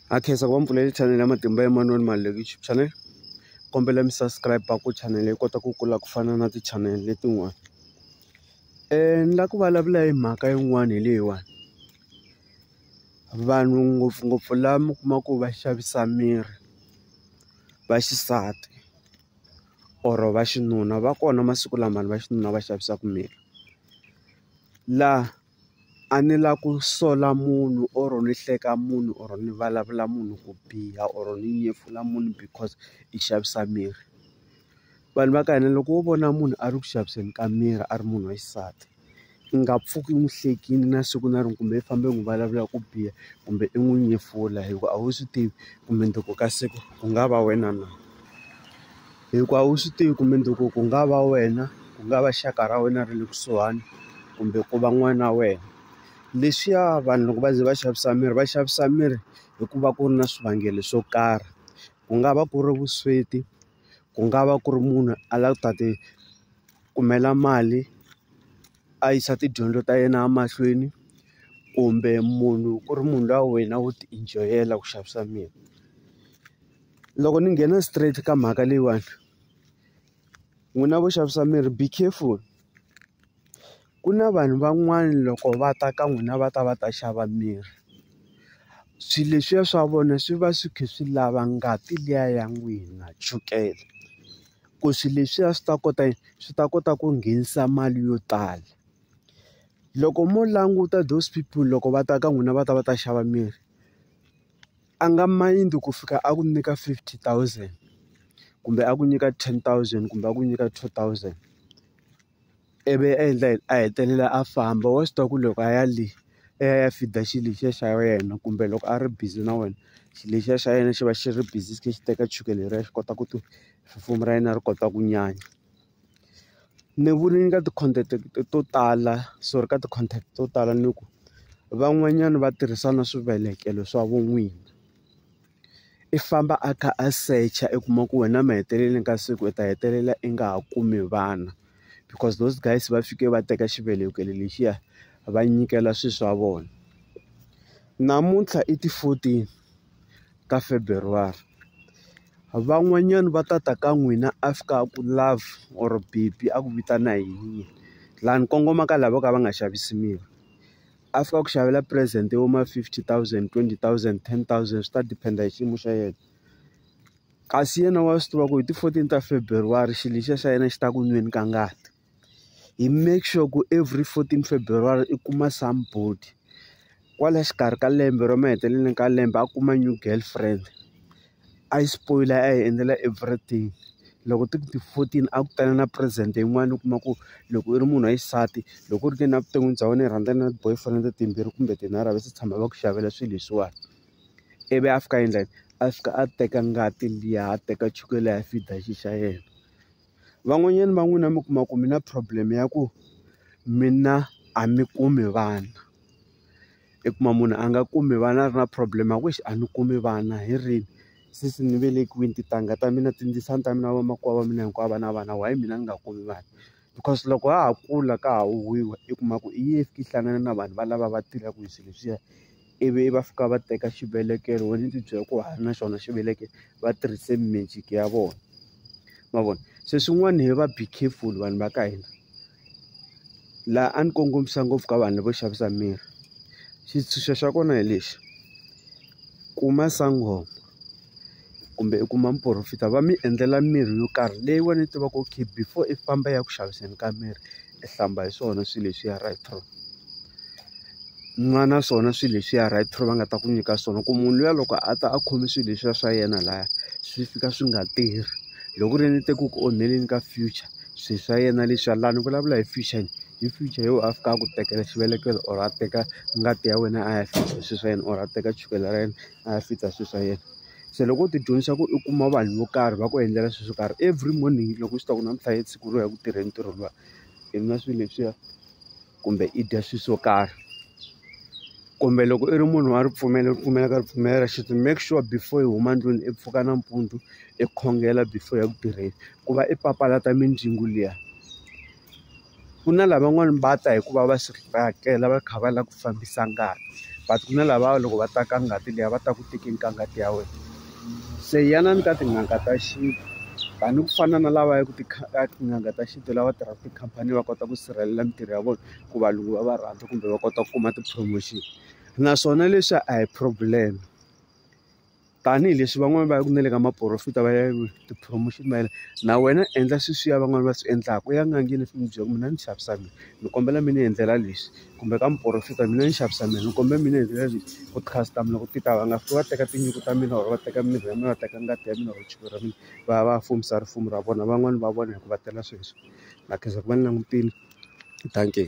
ha khensa ku va mpfuleli chanele ya matimba ya manoni mali le youtube channel kombela mi subscribe ku chanele yi kota ku kula ku fana na ti-channel letin'wana um ni la ku vulavula hi mhaka yin'wana hi leyiwani vanhu ngopfungopfu la mi kuma ku va xavisa miri va xisati or va xinuna va kona masiku lamani va xinuna va xavisaka miri laha a ni la ku sola munhu or ni hleka munhu or ni vulavula munhu ku biha or ni nyefula munhu because i xavisa mirhi vanhu va ka hina loko wo vona munhu a ri ku xaviseni ka mirhi a ri munhu wa xisati i nga pfuki n'wi hlekile na siku na rin'we kumbe i fambe n'wi vulavula ku biha kumbe i n'wi nyefula hikuva a wu swi tivi mundzuku ka siku ku nga va wena na. Hikuva a wu swi tivi ku mundzuku ku nga va wena, ku nga va xaka ra wena ra le kusuhani, kumbe ku va n'wana wa wena. Leswiya vanhu loko va ze va xavisa mirhi va xavisa mirhi hi ku va ku ri na swivangelo swo karhi. Ku nga va ku ri vusweti, ku nga va ku ri munhu a lava ku ta ti kumela mali a yisa tidyondzo ta yena emahlweni, kumbe munhu ku ri munhu luya wena wo ti-enjoy-ela ku xavisa mirhi. loko ni nghena straight ka mhaka leyiwani n'wina vo xavisa mirhi be careful ku na vanhu van'wana loko va ta ka n'wina va ta va ta xava mirhi swilo leswiya swa vona swi va swi kha swi lava ngati liya ya n'wina chukele ku swilo leswiya swi ta kota yini swi ta kota ku nghenisa mali yo tala loko mo languta those people loko va ta ka n'wina va ta va ta xava mirhi. a nga mind ku fika a ku nyika fifty thousand kumbe a ku nyika ten thousand kumbe a ku nyika two thousand ivi a endla yini a hetelela a famba wa swi tiva ku loko a ya le i ya i ya feed-a xilo lexiya xa wena kumbe loko a ri busy na wena xilo lexiya xa yena xi va xi ri busy xi kha xi teka chukele leriya xi kota ku ti perform-a ra yena ri kota ku nyanya. Ni vule ni ka ti-content to tala sorry ka ti-content to tala ni ku van'wanyana va tirhisa na swivelekelo swa vun'wini i famba a kha a secha i kuma ku wena emahetelelweni ka siku i ta hetelela i nga ha kumi vana because those guys va fike va teka xivelekelo lexiya va nyikela swilo swa vona namuntlha i ti-fourteen ka February. Van'wanyana va ta ta ka n'wina a fika a ku love or baby a ku vitana hi yini laha ni kongomaka lava vo ka va nga xavisi mirhi a fika a ku xavela present yo ma fifty thousand, twenty thousand, ten thousand swi ta depend hi xiyimo xa yena kasi yena wa swi tiva ku hi ti fourteen ta February xilo lexiya xa yena xi ta ku nweni ka ngati. hi make sure ku every fourteen February i kuma somebody kwala xikarhi ka lembe ra maheteleleni ka lembe a kuma new girlfriend a yi spoyila a yi endlela everything loko ti ku ti fourteen a ku ta na present yin'wana u kuma ku loko u ri munhu wa xisati loko u ri ke ni evuton'wini bya wena i rhandza na ti-boyfriend timbirhi kumbe tinharhu a va se tshama va ku xavela swilo leswiwani ivi a fika a endla yini a fika a teka ngati liya a teka chukele a ya feed-a xi xa yena. Van'wanyana va n'wina mi kuma ku mi na problem ya ku mi na a mi kumi vana i kuma munhu a nga kumi vana a ri na problem ya ku exi a ni kumi vana hi rini since ni velekiwini tintangha ta mina tindzisana ta mina vamakwavo va mina hinkwavo va na vana why mina ni nga kumi vana because loko ha ha kula ka ha huhwiwa i kuma ku i ye i fiki i hlangana na vanhu valava va tirhaka hi swilo leswiya. ivi va fika va teka xivelekelo wena ndzi byela ku ha ri na xona xivelekelo va tirhise magic ya vona ma vona se swin'wana hi va be careful vanhu va ka hina laha a ni kongomisa ngopfu ka vanhu lavo xavisa mirhi xitshunxo xa kona hi lexi kuma sangoma kumbe i kuma muporofeta va mi endlela mirhi yo karhi leyi wena yi tivaka okay before i famba i ya ku xaviseni ka mirhi i hlamba hi swona swilo leswiya right through nwa na swona swilo leswiya right through va nga ta ku nyika swona ku munhu luya loko a ta a khome swilo leswiya swa yena laya swi fika swi nga tirhi loko ku ri yena i te ku ku onheleni ka future swilo swa yena leswiya laha ni vulavula hi future hi future yo a fika a ku tekela xivelekelo or a teka ngati ya wena a ya swilo swa yena or a teka chukele ra yena. a ya fita swilo swa yena se loko u tidyondzisa ku u kuma vanhu vo karhi va ku endlela swilo swo karhi every morning loko swi ta ku namuntlha hi siku ro ya ku tirheni ntirho luwa i nwa swilo leswiya kumbe i dya swilo swo karhi kumbe loko i ri munhu wa ripfumelo ripfumelo ka ripfumelo ra xintu make sure before i huma ndlwini i pfuka nampundzu i khongela before ya ku tirheni ku va i papalata mindzingu liya. ku na lavan'wani va ta hikuva va swi tsakela va kha va lava ku fambisa ngati but ku na lava loko va ta ka ngati liya va ta ku tekeni ka ngati ya wena se yanani ka tin'anga ta xintu tani ku fana na lava ya ku ti tin'anga ta xintu lava tirhaka tikhampani va kota ku sirhelela mintirho ya vona ku valungu va va rhandza kumbe va kota ku kuma ti-promotion naswona leswi a hi problem. tanihileswi van'wani va yaku na le ka maporofita va ya ti-promotion va yena na wena endla sweswiya van'wani va swi endlaka u ya n'angeni u fika u byela ku mina ni xavisa mina ni kombela mi ni endlela leswi kumbe ka muporofeta mina ni xavisa mina ni kombela mi ni endlela leswi ku ti-customer loko ti ta va nga fiki va teka tinyungu ta mina or va teka mirhi ya mina va teka ngati ya mina or chukele ra mina va ya va ya fumisa risimu ra vona van'wani va vona hi ku va tela sweswo na khensa ku va ni langutile dankie.